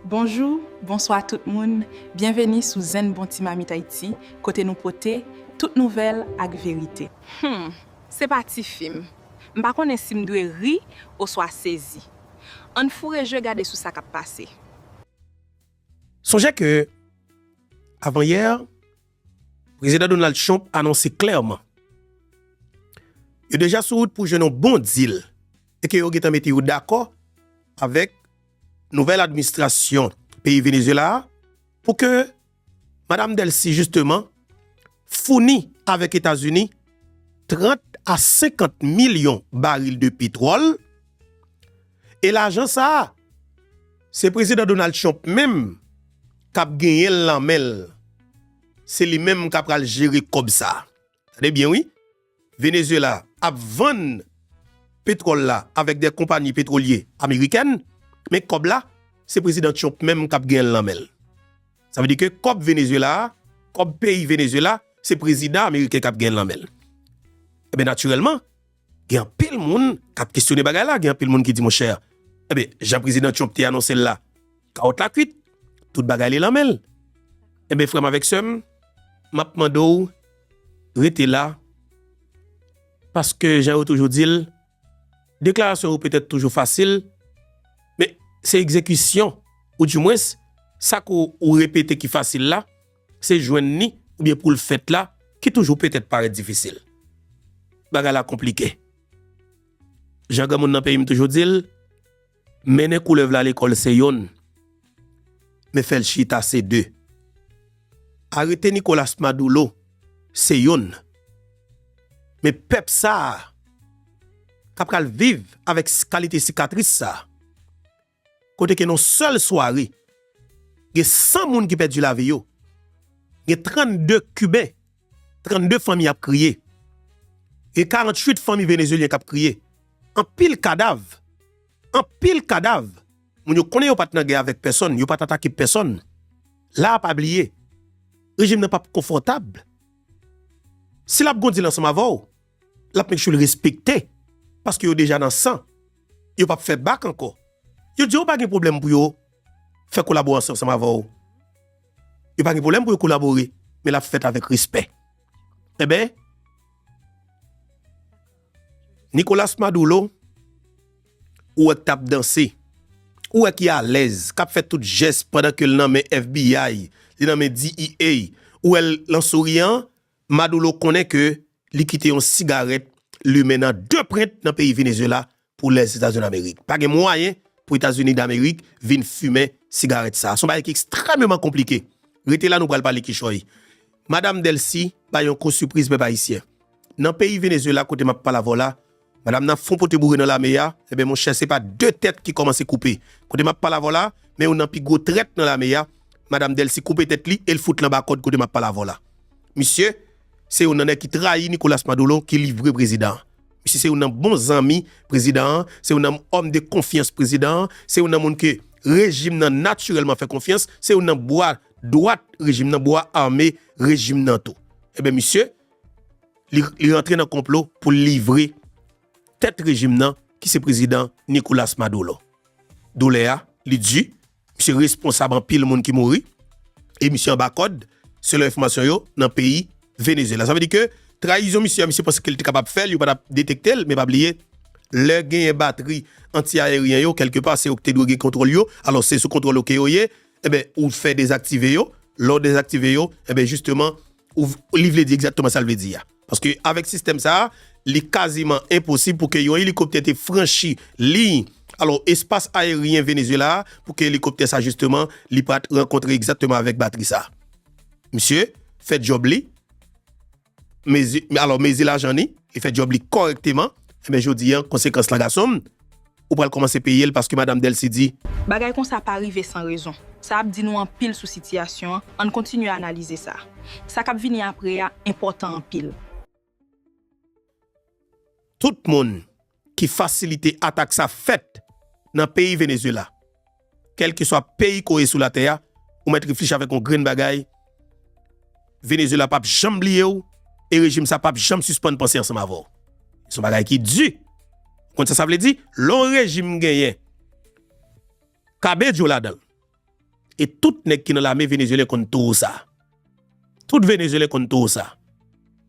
Bonjou, bonswa tout moun, byenveni sou Zen Bon Ti Mamit Ayiti kote nou pote tout nouvèl ak verite. Humm se pa ti fim. M pa konnen si m dwe ri oswa sezi. Ann foure je gade sou sa k ap pase. Sonje ke avan yè, Prezidan Donald Trump anonse klèman yo deja sou wout pou jwenn yon bon deal e ke yo gentan mete yo dakò avèk Nouvèl administrasyon peyi Venezuela a pou ke Madam Delcy jisteman founi avèk Etazini 30 a 50 milyon baril de petwòl e lajan sa a se Prezidan Donald Trump menm kap genyen l nan men l, se li menm kap pral jere kòb sa a. Tande byen wi, Venezuela ap vann petwòl la avèk de konpani petwolye amerikèn, men kòb la se Prezidan Trump menm kap genyen l nan men l. Sa vle di ke kòb Venezuela a, kòb peyi Venezuela se Prezidan ameriken kap genyen l nan men l. Enben natirèlman. Gen anpil moun k ap kesyone bagay la, gen anpil moun ki di monchè, enben, jan Prezidan Trump te anonse l la, kawòt la kuit, tout bagay li lan men l. Enben, frè m avèk sè m, m ap mande w rete la, paske jan yo toujou di l, deklarasyon yo petèt toujou fasil, men se egzekisyon, oudimwens, sa ke w repete ki fasil la, Se jwenn ni oubyen pou l fèt la ki toujou petèt parèt difisil. Bagay la konplike. Jan granmoun nan peyi m toujou di l, mennen koulèv la lekòl se youn, men fè l chita se de. Arete Nicolas Madoulo se youn, men pèp sa a ka pral viv avèk kalite sikatris sa a. kote ke nan yon sèl sware, gen 100 moun ki pèdi lavi yo, gen 32 Kiben, 32 fanmi ap kriye, gen 48 fanmi Venezyelyen kap kriye, anpil kadav, anpil kadav, moun yo konnen yo pat nan gè avèk pèsòn, yo pat atake pèsòn, la a pa bliye, rejim nan pap konfòtab, si lap gondi l ansanm avè w, l ap make sure l respekte paske yo deja nan san, yo p ap fè bak ankò. Yo di yo pa gen pwoblèm pou yo fè kolaborasyon ansanm avè w. Yo pa gen pwoblèm pou yo kolabore, men l ap fèt avèk respè. Enben, Nicolas Maduro, ou wè k t ap danse, ou wè ki alèz, k ap fè tout jès pandan ke l nan men FBI, li nan men DEA, ou wè l lan souriyan, Madoulo konnen ke li kite yon sigarèt limen nan de prent nan peyi Venezuela pou Lèzetazini Amerik. Pa gen mwayen pou Etazini Damerik vin fimen sigarèt sa a. Se yon bagay ki ekstrèmeman konplike. Rete la nou pral pale kichòy. Madam Delcy bay yon ko sipriz pèp Ayisyen. Nan peyi Venezuela kote m ap pale avè w la, Madam nan fon pote boure nan lame ya, eben monchè se pa de tèt ki kòmanse koupe. Kote map pale avèw la, men youn nan pi gwo trèt nan lame ya, Madam Delcy koupe tèt li el fout l anba kòd kote map pale avèw la. Misye se youn nan nèg ki trayi Nicolas Maduro ki livre prezidan an. Misye se youn nan bon zanmi prezidan an, se youn nan homme de confiance prezidan an, se youn nan moun ke rejim nan natirèlman fè konfyans, se youn nan bwa dwat rejim nan, bwa ame rejim nan tou. Eben misye. li rantre nan konplo pou l livre tèt rejim nan ki se prezidan Nicolas Maduro. Doulè a, li di, misye responsab anpil moun ki mouri e misye anba kòd, selon enfòmasyon yo, nan peyi Venezyela. Sa vle di ke trayizon misye a, misye panse ke li te kapab fè l, yo pa t ap detekte l, men pa bliye, lè genyen batri anti-aeryen yo, kèlke pa se yo ki te dwe gen kontwòl yo, alò se sou kontwòl ou ke yo ye, enben ou fè dezaktive yo, lè w dezaktive yo, enben jisteman, Li vle di egzakteman sa l vle di a. Paske avèk sistèm sa a, li kaziman enposib pou ke yon elikoptè te franchi liy alo espas ayeryen Venezuela a pou ke elikoptè sa jisteman li pa t rankontre egzakteman avèk batri sa. Misye fè djòb li, mezi alo mezi lajan li, li fè djòb li kòrèkteman, enben jodi an konsekans la gason m, Ou pral kòmanse peye l paske Madam Delcy di. Bagay konsa pa rive san rezon. Sa ap di nou anpil sou sitiyasyon an, ann kontinye analize sa. Sa k ap vini apre a enpòtan anpil. Tout moun ki fasilite atak sa fèt nan peyi Venezuela. Kèlkeswa peyi kò ye sou latè a, ou mèt reflchi avèk yon grenn bagay, Venezuela p ap janm bliye w e rejim sa a p ap janm sispann panse ansanm avè w. Se yon bagay ki di. Ou konn sa sa vle di? Lè yon rejim genyen Cabello ladan l e tout nèg ki nan lame venezuelyen konn towo sa a. Tout Venezuelen konn too sa.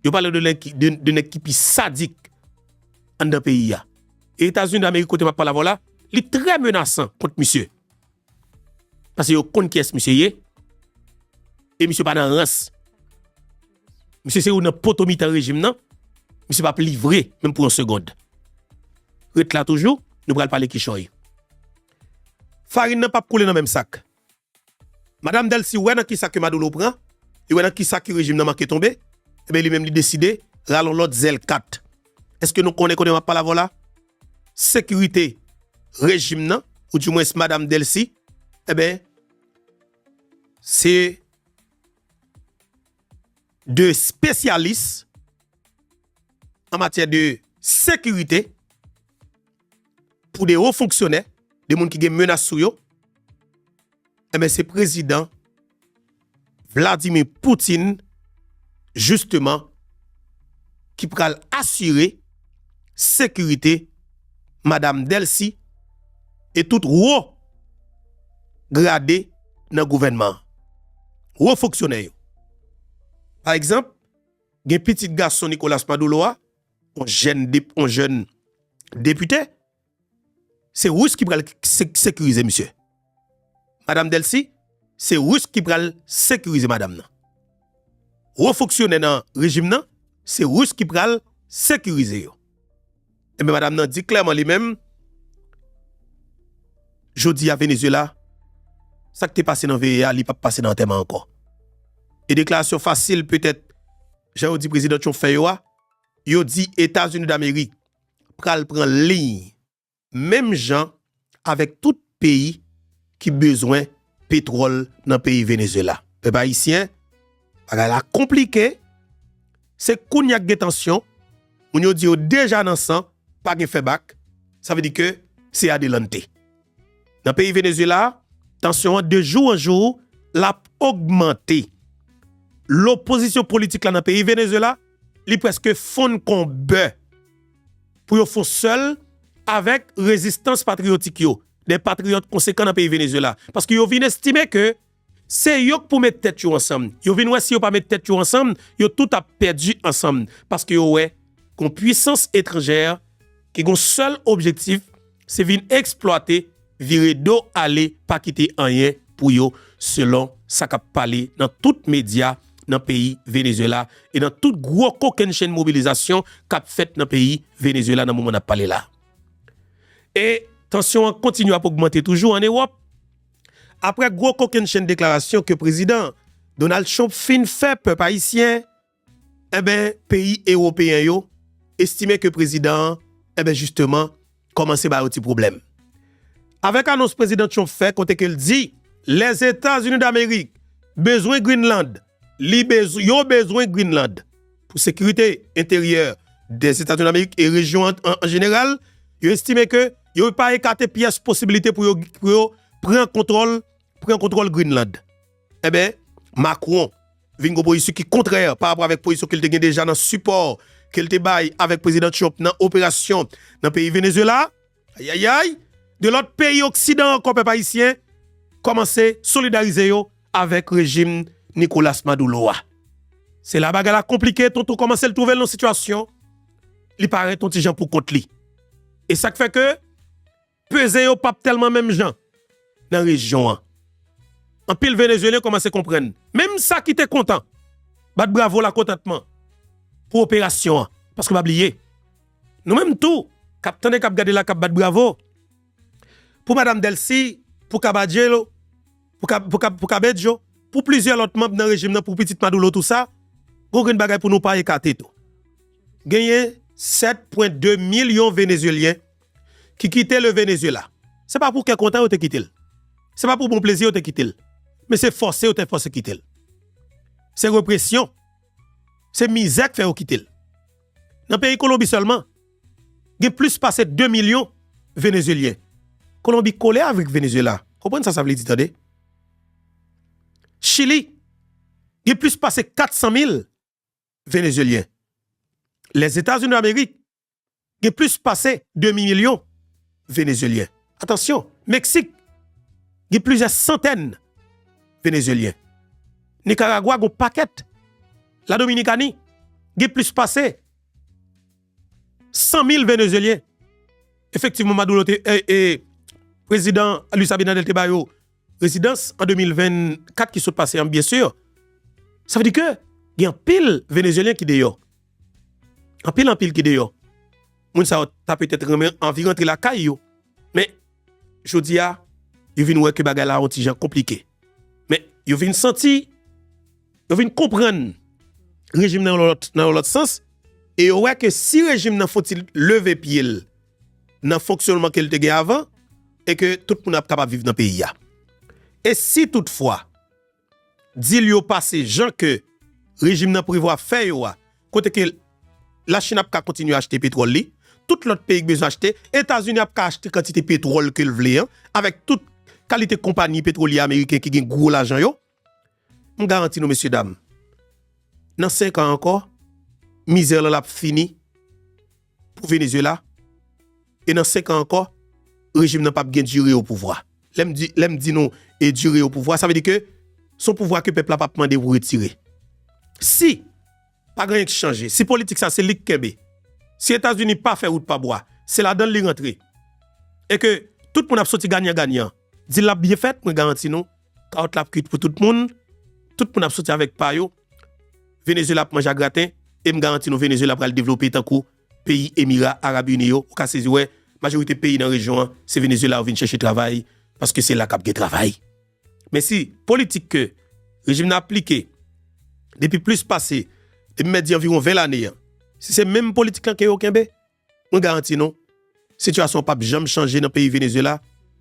Yo pale de nèg ki de nèg ki pi sadik anndan peyi a. E Etazini Damerik kote map pale avèw la, li trè menasan kont misye. Pase yo konn kiyès misye ye. E misye pa nan rans. Misye se youn nan poto mitan rejim nan. Misye pap livre menm pou yon segond. Ret la toujou, nou pral pale kichòy. Farin nan pap koule nan menm sak. Madam Delcy wè nan kisa ke Maduro pran, li wè nan kisa ke rejim nan manke tonbe, enben li menm li deside ralon lòt zèl kat. Eske nou konnen kote map pale avè w la? Sekirite rejim nan, ou di mwens Madam Delcy, enben se 2 spesyalis an matyè de sekirite, pou de wo fonksyonè, de moun ki gen menas sou yo, enben se prezidan Vladimir Poutine jisteman ki pral asire sekirite madam Delcy e tout wo grade nan gouvènman an. Wo fonksyonè yo. Pa egzanp, gen pitit gason Nicolas Madoulo a On jèn dep, on jèn depite, se Rus ki pral sekirize misye. Madam Delcy, se Rus ki pral sekirize madam nan. Wo fonksyonè nan rejim nan, se Rus ki pral sekirize yo. Enben eh madam nan di klèman li menm, jodi a Venezuela, sa k te pase nan veye a, li pap pase nan antèman ankò. E deklarasyon fasil petèt, jan yo di prezidan Trump fè yo a, yo di Etazini Damerik pral pran liy menm jan avèk tout peyi ki bezwen petwòl nan peyi Venezyela. Pèp ayisyen, bagay la konplike, se kounye a k gen tansyon, moun yo di yo deja nan san, pa gen fè bak, sa vle di ke se adelante. Nan peyi Venezuela, tansyon an de jou an jou lap ogmante. Lopozisyon politik la nan peyi Venezuela, li preske fonn kon bè. Pou yo fon sèl avèk rezistans patriyotik yo, de patriyòt konsekan nan peyi Venezuela. Paske yo vin estime ke Se yo k pou met tèt yo ansanm. Yo vin wè si yo pa met tèt yo ansanm, yo tout ap pèdi ansanm. Paske yo wè gon pwisans etranjè ki gon sèl objektif, se vin eksplwate, vire do ale pa kite anyen pou yo, selon sa k ap pale nan tout medya nan peyi Venezuela e nan tout gwo kokennchenn mobilizasyon k ap fèt nan peyi Venezuela nan moman n ap pale la. E tansyon an kontinye ap ogmante toujou an Ewòp. Aprè gwo kokennchenn deklarasyon ke prezidan Donald Trump fin fè pèp ayisyen enben peyi ewopeyen yo estime ke prezidan an enben jisteman kòmanse ba yo ti pwoblèm avèk anons prezidan Trump fè kote ke l di Lèzetazinidamerik bezwen Greenland Li bezwen, yo bezwen Greenland pou sekirite enteryè Dèzetazini Damerik e rejyon an an jeneral. Yo estime ke yo pa ekate pyès posibilite pou yo pran kontwòl pran kontwòl Greenland. Enben, Macron vin gon pozisyon ki kontrè pa rapò avèk pozisyon ke l te gen deja nan sipò ke l te bay avèk Prezidan Trump nan operasyon nan peyi Venezuela. Ayayay! De lòt peyi oksidan ankò pèp ayisyen kòmanse solidarize yo avèk rejim Nicolas Madoulo a. Se la bagay la konplike, Tonton kòmanse l twouve l nan sitiyasyon li parèt on ti jan pou kont li. E sa k fè ke peze yo pap tèlman menm jan nan rejyon an. Anpil Venezyelyen kòmanse konprann. Menm sa ki te kontan bat bravo lakontantman pou operasyon an. Paske pa bliye. Nou menm tou kap tande kap gade la kap bat bravo pou madam Delcy pou kabadjelo pou kabedjo pou plizyè lòt manb nan rejim nan pou pitit madoulo tou sa gon grenn bagay pou nou pa ekate tou genyen 7 pwen 2 milyon venezyelyen ki kite le venezyela se pa pou kè kontan yo te kitel se pa pou bon plezi yo te kitel men se fòse yo te fòse kitel se represyon se mizè k fè yo kitel. Nan peyi Kolonbi sèlman, gen plis pase 2 milyon Venezyelyen. Kolonbi kole avk Venezyela, konprann sa sa vle di tande. Chili, gen plis pase 400 mil Venezyelyen. Lèzetazinidamerik, gen plis pase demi milyon. Venezyelyen. Atansyon, Meksik gen plizyè santèn Venezyelyen. Nikaragwa gen yon pakèt. La Dominikani gen plis pase 100 mil Venezyelyen. Efektivman, Maduro te, prezidan Luis Abinader te ba yo rezidans an 2024 ki sot pase an, byensi. Sa vle di ke gen anpil Venezyelyen ki deyò. Anpil anpil ki deyò. Moun sa yo ta petèt renmen anvi rantre lakay yo. Men, jodi a, yo vin wè ke bagay la yon ti jan konplike. Men, yo vin santi, yo vin konprann rejim nan yon lòt sans, e yo wè ke si rejim nan fon ti leve pye l nan fonksyònman ke l te gen avan, e ke tout moun ap kapab viv nan peyi a. E si tout fwa, Dil yo pase jan ke rejim nan prevwa fè yo a, kote ke La Chine ap ka kontinye achte petwòl li, tout lòt peyi k bezwen achte, Etazini ap ka achte kantite petwòl ke l vle an, avèk tout kalite konpani petwolye ameriken ki gen gwo lajan yo, m garanti nou mesye dam, nan 5 an ankò, mizè lan l ap fini. pou Venezuela e nan 5 an ankò rejim nan pap gen dure o pouvwa. Lèm di lèm di nou e dure o pouvwa sa vle di ke son pouvwa ke pèp la pap mande pou retire. Si pa gen anyen ki chanje, si politik sa se lik kenbe, si Etazini pa fè wout pa bwa, se ladanl li rantre e ke tout moun ap soti ganyan ganyan, dil la ap byen fèt mwen garanti nou Kawòt la ap kwit pou tout moun. Tout moun ap soti avèk pa yo. Venezuela ap manje a graten. E m garanti nou Venezuela pral devlope tankou peyi Emira Arab Uni yo. Ou ka sezi wè, majorite peyi nan rejyon an, se Venezuela yo vin chèche travay, paske se la k ap gen travay. Men si politik ke rejim nan aplike depi plis pase, depi mèdi anviwon 20 lane an, si se menm politik lan ke yo kenbe, Mwen garanti nou, sitiyasyon an pap janm chanje nan peyi Venezuela,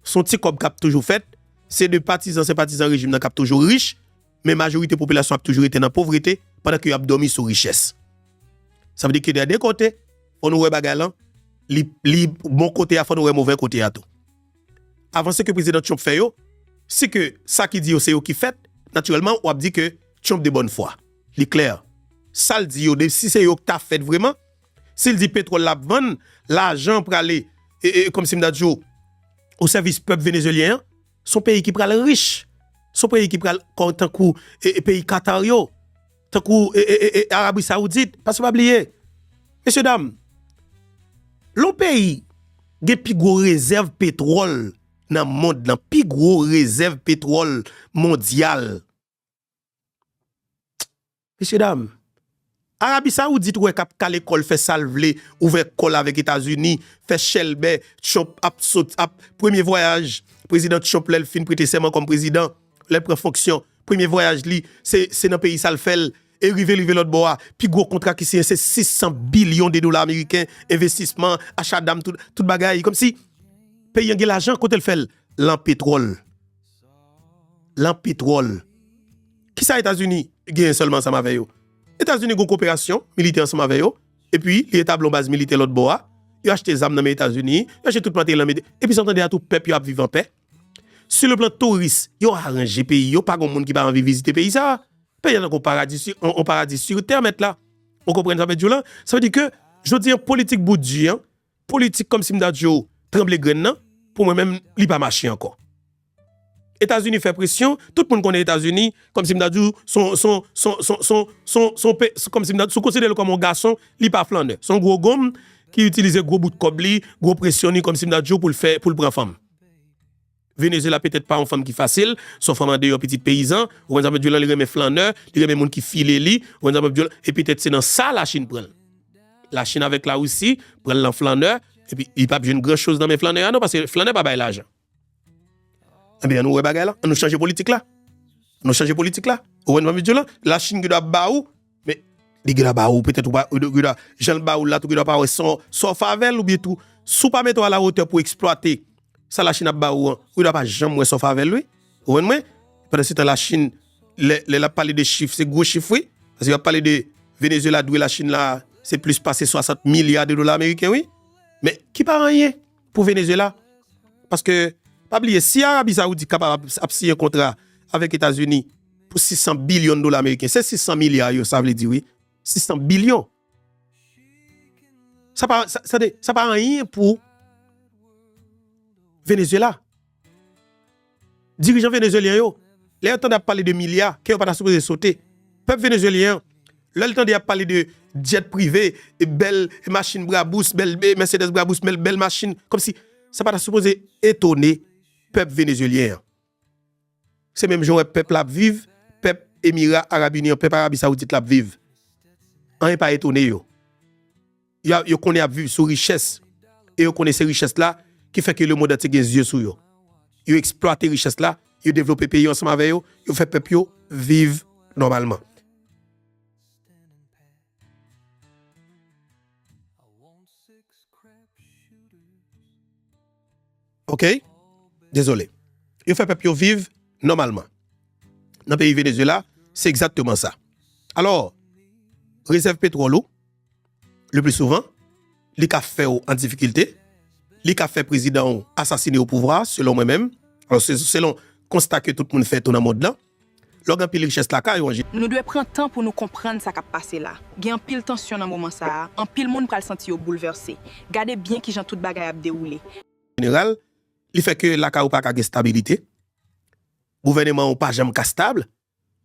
s on ti kòb kap toujou fèt, se de patizan senpatizan rejim nan kap toujou rich, men majorite popilasyon ap toujou rete nan povrete pandan ke yo ap dòmi sou richès. Sa vle di ke dè de kote, fò nou wè bagay lan, li, li bon kote a fò nou wè movè kote a tou. Avanse ke Prezidan Trump fè yo, si ke sa ki di yo se yo ki fèt, natirèlman wap di ke Trump de bòn fwa. Li klè, sal di yo de si se yo k ta fèt vreman, Sil di petrol lap vann lajan prale komsi m ta di w o sèvis pèp Venezuelyen an son peyi ki pral rich son peyi ki pral tankou peyi Qatar yo tankou Arabie Saoudite paske pa bliye mesye dam lè w peyi gen pi gwo rezèv petrol nan mond lan pi gwo rezèv petrol mondyal Mesye dam, Arabi Saoudit wè kap kale kòl fè sal vle, ouvè kòl avèk Etazini, fè chèlbè, Trump ap sot ap premye vwayaj Prezidan Trump lèl fin prete sèman kòm prezidan, lèl pran fonksyon, premye vwayaj li se se nan peyi sal fèl e rive rive lòt bò a, pi gwo kontra ki siyen se 600 bilyon de dola ameriken, envestisman, acha dam tout bagay, kòmsi peyi an gen lajan kotel fèl lan petwòl. lan petwòl. Kisa Etazini genyen sèlman ansanm avè yo? Etazini gen yon koperasyon militè ansanm avè yo, epi li etabli yon baz militè lòt bò a, yo achte zam nan men Etazini, yo achte tout materyèl nan men, epi sa w tande a tou pèp yo ap viv anpè. Sou le plan touris, yo aranje peyi yo, pa gen yon moun ki pa anvi vizite peyi sa a. Peyi a tankou yon paradi si, yon paradi sur terre mèt la. Ou konprann sa m vle di w lan? Sa vle di ke jodi an politik Bout di an, Politik kòmsi m ta di yo tranble grenn nan, pou mwen menm li pa mache ankò. Etazini fè presyon, tout moun konnen Etazini, kòmsi m ta di w, si w konsidere l kòm yon gason, li pa flannè. Se yon gwo gonm ki itilize gwo bout kòb li, gwo presyon li, kòmsi m ta di w, pou l pran fanm. Venezuela petèt pa yon fanm ki fasil, se yon fanm andeyò pitit peyizan, ou konn sa m ap di w lan, li renmen flannè, li renmen moun ki file li, ou konn sa m ap di w lan, e petèt se nan sa Lachin pran l. Lachin avèk Larisi pran l lan flannè, epi li pa p jwenn gran choz nan men flannè a non, paske flannè pa bay lajan. Enben, an nou wè bagay lan, an nou chanje politik la. An nou chanje politik la. Ou konn sa m ap di w lan, Lachin ki dwe ap ba ou. Men li gentan ba ou petèt ou pa gentan jan l ba ou l la tou gentan pa wè sa w fè avè l oubyen tou si w pa mete w alawotè pou w eksplwate sa lachin ap ba ou an ou gentan pa janm wè sa w fè avè l wi ou konprann mwen pandansetan lachin lè l ap pale de chif se gwo chif wi paske y ap pale de venezyela dwe lachin la se plis pase 60 milya de dola ameriken wi men ki pa anyen. Pou Venezuela, paske pa bliye si Arabi Saoudi kapab ap siyen kontra avèk Etazini pou 600 bilyon dola meriken, se 600 milya yo sa vle di wi, 600 bilyon, sa pa, tande, sa pa anyen pou Venezuela. Dirijan venezuelyen yo, lè yo tande ap pale de milya, kè yo pa ta sipoze sote. Pèp venezuelyen an, lè l tande y ap pale de djèt prive, bèl machin brabous, bèl mèsedès brabous, bèl machin, kòmsi sa pa ta sipoze etone pèp venezuelyen an. Se menm jan ou wè pèp la ap viv, pèp Emira Arab Ini an, pèp Arabi Sawoudit la ap viv. Anyen pa etone yo. Yo konnen y ap viv sou richès e yo konnen se richès la ki fè ke lemonn antye gen zye sou yo. Yo eksplwate richès la, yo devlope peyi yo ansanm avè yo, yo fè pèp yo viv nòmalman. Ok dezole yo fè pèp yo viv nòmalman nan peyi Venezuela se egzakteman sa alò rezèv petwòl ou le pli souvan li ka fèw an difikilte li ka fè prezidan ou asasine opouvwa selon mwen menm alò selon konsta ke tout moun fè tou nan mond lan. Lòg anpil richès lakay ou. Nou dwe pran tan pou nou konprann sa k ap pase la. Gen anpil tansyon nan moman sa a, anpil moun pral santi yo boulvèse. Gade byen kijan tout bagay ap dewoule. Jeneral, li fè ke lakay ou pa ka gen stabilite, gouvèneman ou pa janm ka stab,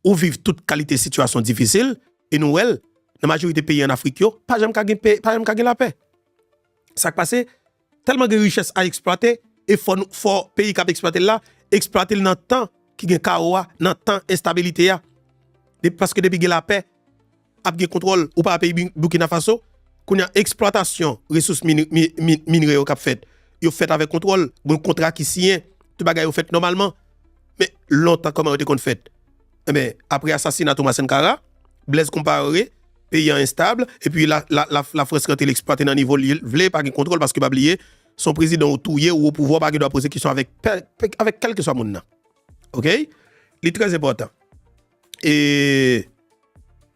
ou viv tout kalite sitiyasyon difisil, e nou wè l, nan majorite peyi an Afrik yo, pa janm ka gen lapè. Sa k pase? Tèlman gen richès a eksplwate e fò nou fò peyi kap eksplwatel la eksplwatel nan tan ki gen kawo a nan tan enstabilite a depi paske depi gen lapè ap gen kontwòl ou pa peyi Burkina Faso kounya eksplwatasyon resous minre yo kap fèt yo fèt avèk kontwòl gen kontra ki siyen tout bagay yo fèt nòmalman men lontan kòman yo te konn fèt. Enben, apre asasina Thomas Sankara, Blaise Compaoré, peyi an enstab, epi Lafrans rantre l eksplwate nan nivo li vle, pa gen kontwòl paske pa bliye, se yon prezidan ou touye ou opouvwa ou pa gen dwa poze kesyon avèk kèlkeswa moun nan. Ok? Li trè enpòtan. E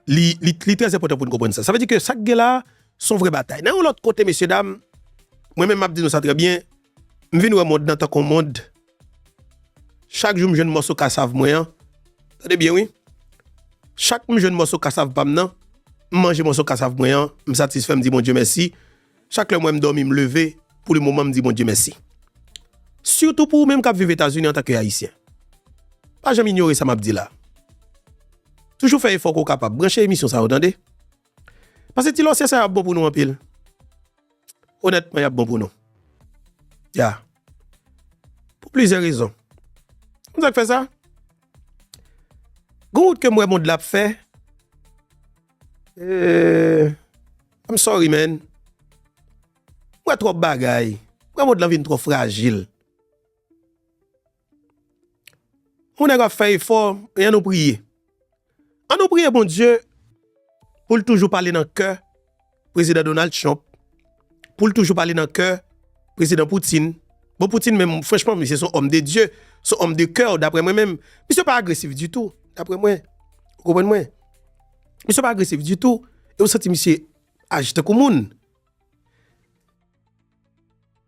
li trè enpòtan pou n konprann sa. Sa vle di ke sa k gen la a se yon vrè batay. Nan yon lòt kote mesyedam, mwen menm m ap di nou sa trè byen, m vin wè mond nan tankou yon mond Chak jou m jwenn mòso kasav mwen an, tande byen wi, chak m jwenn mòso kasav pa m nan, m manje mòso kasav mwen an, m satisfè m di Bondye mèsi, chak lè m wè m dòmi m leve pou li moman m di Bondye mèsi. Sitou pou ou menm k ap viv Etazini antanke Ayisyen. Pa janm inyore sa m ap di la. Toujou fè efò ke w kapab. Branche emisyon sa yo tande. Pase ti lòsyè sa yo ap bon pou nou anpil. Onètman y ap bon pou nou. Ya. Pou plizyè rezon. Konn sa k fè sa? Gon wout ke m wè mond la ap fè. Eee I'm sorry man. M wè twòp bagay. M wè mond lan vin twò frajil. On nèg ap fè efò e an nou priye. An nou priye Bondye pou l toujou pale nan kè Prezidan Donald Trump, pou l toujou pale nan kè Prezidan Poutine. Bon Poutine menm franchman misye son òm de Dye, son òm de kè daprè mwen menm. Misye pa agresif ditou daprè mwen. Ou konprann mwen? Misye pa agresif ditou e ou santi misye aji tankou moun.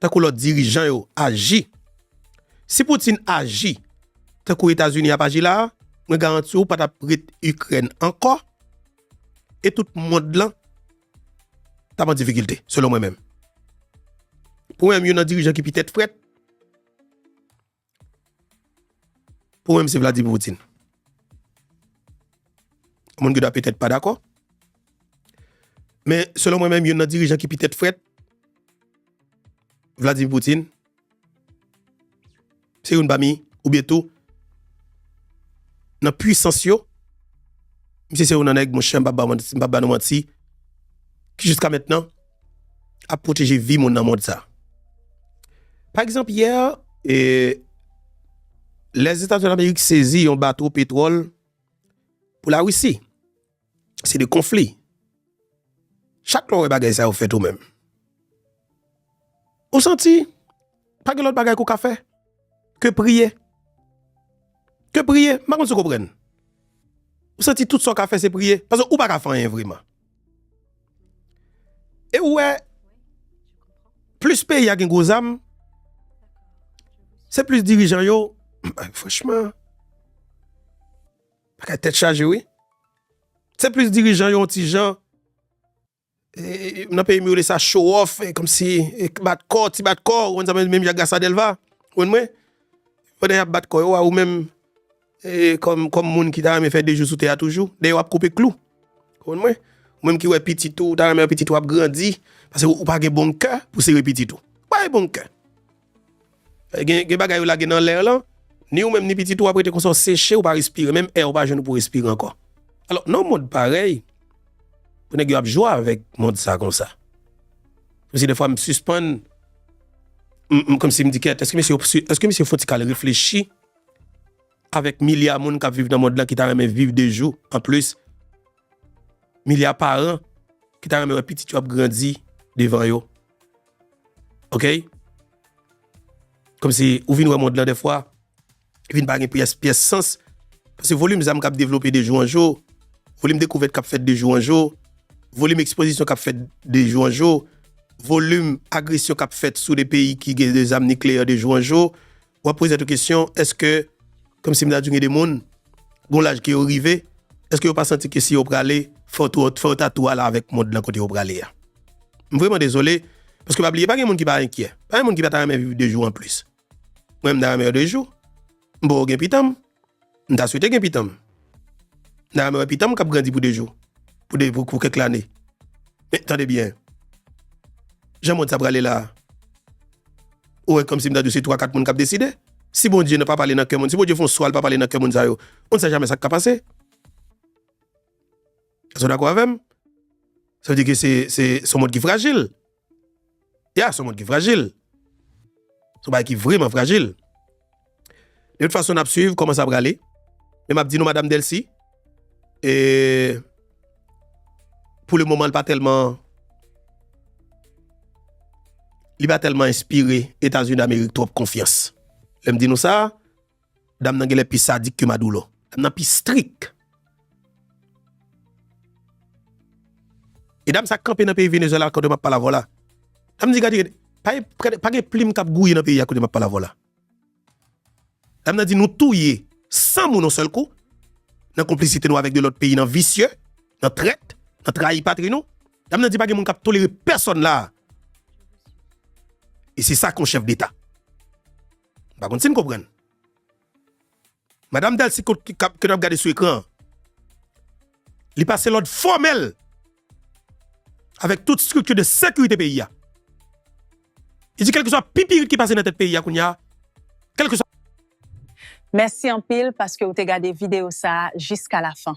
tankou lòt dirijan yo aji. Si Putin aji tankou Etazini ap aji la a, mwen garanti w pa t ap ret Ikrèn ankò e tout mond lan t ap an difikilte, selon mwen menm. Pou mwen menm, youn nan dirijan ki pi tèt frèt. Pou mwen m se Vladimir Poutine. Moun ki da petèt pa dakò. Men, selon mwen menm, yon nan dirijan ki petèt fret, Vladimir Poutine, se yon bami, ou bie tou, nan puissance yo, misye se yon nan nèg, mwen chan pa ba nou manti, ki jiska mèt nan, ap pwoteje vi moun nan mond sa. Pa egzanp, yè, Lèzetazini Amerik sezi yon bato petwòl pou Larisi. Se de konfli. Chak lè w wè bagay sa yo fèt ou menm. Ou santi pa gen lòt bagay ke w ka fè ke priye? Ke priye? M pa konn si w konprann. Ou santi tout sa w ka fè se priye? Paske ou pa ka fè anyen vreman. E ou wè, plis peyi a gen gwo zam, se plis dirijan yo, franchman, bagay tèt chaje wi. Se plis dirijan yo yon ti jan. Nan peyi m yo rele sa show off, kòmsi bat kò, ti bat kò, ou konn sa m vle di, menm jan ak Gassa Delva, ou konn mwen? Pandan y ap bat kò yo a, ou menm kòm moun ki ta renmen fè 2 jou sou tè a toujou, dèyè w ap koupe klou. Ou konn mwen? Ou menm ki wè pitit ou, ou ta renmen wè pitit ou ap grandi, paske ou pa gen bon kè pou sere pitit ou. Ou pa gen bon kè. Gen bagay yo lage nan l'air lan, ni ou menm ni pitit ou ap rete konsa ou seche ou pa respire, menm air ou pa jwenn ou pou respire ankò. Alò nan yon mond parèy, pou nèg yo ap jwe avèk mond sa konsa. Menm si dèfwa m sispann, m kòmsi m di kèt, èske mesye yo, èske misye fon ti kal reflechi avèk milya moun kap viv nan mond lan ki ta renmen viv de jou an plis, milya paran ki ta renmen wè pitit yo ap grandi devan yo. Ok? Kòm si ou vin wè mond lan defwa, li vin pa gen pyès pyès sans. Pase volim zam kap devlope de jou an jou, volim dekouvèt kap fèt de jou an jou, volim ekspozisyon kap fèt de jou an jou, volim agresyon kap fèt sou de peyi ki gen de zam nikleyè de jou an jou. Wap poze tèt ou kesyon, eske, kòmsi m ta di gen de moun, gon laj ke yo rive, eske yo pa santi ke si yo prale, fò tou, fò yo ta tou ale avèk mond lan kote yo prale a? M vreman dezole, paske pa bliye pa gen moun ki pa enkyè, pa gen moun ki pa ta renmen viv 2 jou anplis. Mwen menm m ta renmen yo 2 jou, m poko gen pitanm, M ta swete gen pitanm. N ta renmen wè pitanm k ap grandi pou de jou, pou de pou kèk lane. Men, tande byen, jan mond sa prale la a, ou wè kòmsi m ta di w se twa kat moun k ap deside. Si Bondye nan pa pale nan kè moun, si Bondye fè yon swa l pa pale nan kè moun sa yo, moun sa jamè sa k ka pase. Èske w dakò avè m? Sa vle di ke se se se yon mond ki frajil. Ya, son moun ki frajil. Son bagay ki vreman frajil. De tout fason, n ap swiv kòman sa prale. Men m ap di nou Madam Delcy, e pou le moman li pa tèlman li pa tèlman enspire Etazini Damerik twòp konfyans. Lè m di nou sa, Dam nan genlè pi sadik ke Madoulo. Dam nan pi strik. E dam sa kanpe nan peyi Venezuela kote map pale avèw la. Dam di gade pa gen plim kap gouye nan peyi a kote map pale avèw la. Dam nan di nou touye 100 moun yon sèl kou nan konplisite nou avèk 2 lòt peyi nan visye, nan trèt, nan trayi patri nou. Dam nan di pa gen moun kap tolere pèsòn la. E se sa kon chèf deta. M pa konn si n konprann. Madam Delcy ke n ap gade sou ekran an, li pase lòd fòmèl avèk tout estrikti de sekirite peyi a. Li di kèlkeswa pipirit ki pase nan tèt peyi a kounya, kèlkeswa. Mèsi anpil paske ou te gade videyo sa a jiska lafan.